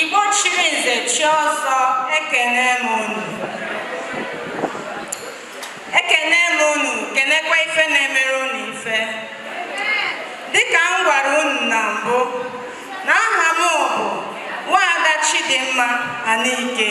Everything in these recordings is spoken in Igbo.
Igbo chiri nze chi ọzọ ekene m unu ekene m unu kenekwa ife na-emere unu ife dịka m gwara unu na mbụ na aha m bụ nwaada Chidimma Anike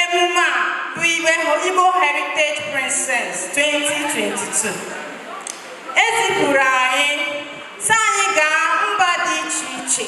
Emume a bụ Igbo Heritage Princess 2022 ezipụrụ anyị sị anyị gaa mba dị iche iche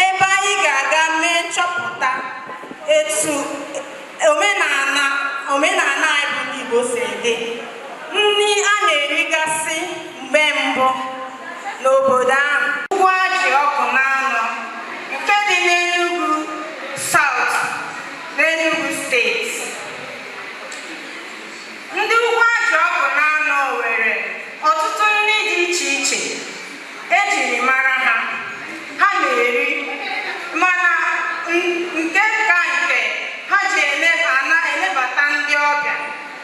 ebe anyị ga-aga mee nchọpụta etu omenala omenala anyị bụ ndị Igbo si dị nri a na-erigasị mgbe mbụ n'obodo ahụ Ugwuaji Awkunanaw nke dị n'Enugu South n'Enugu steeti ndị Ugwuaji Awkunanaw nwere ọtụtụ nri dị iche iche ejiri mara ha ha na-eri mana nke ka nke ha ji elebata ndị ọbịa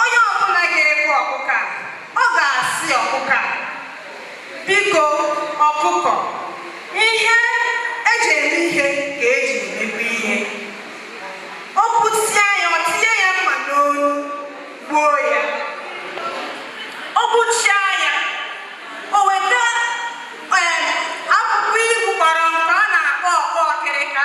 onye ọbụla ga-egbu ọkụkọ ọ ga-asị ọkụkọ biko ọkụkọ ihe eji eme ihe ka eji emegbu ihe o kwusịa ya o tinye ya mma n'olu gbuo ya o gbuchịa ya o weta akwụkwọ ibu gbara nke a na-akpọ ọkpọ ọkịrịka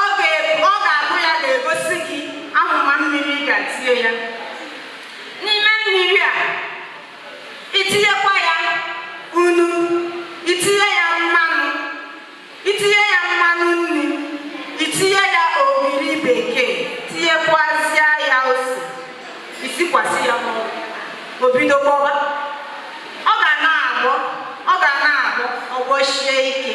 Ọ ga-abụ ya ga-egosi gị ahụma mmiri ị ga-etinye ya n'ime nri a itinyekwa ya nnu itinye ya mmanụ itinye ya mmanụ nri itinye ya ogiri bekee tinyekwazịa ya ose isikwasị ya n'ọkụ o bido gbọba ọ ga na-agbọ ọ ga na-agbọ ọ gbọshie ike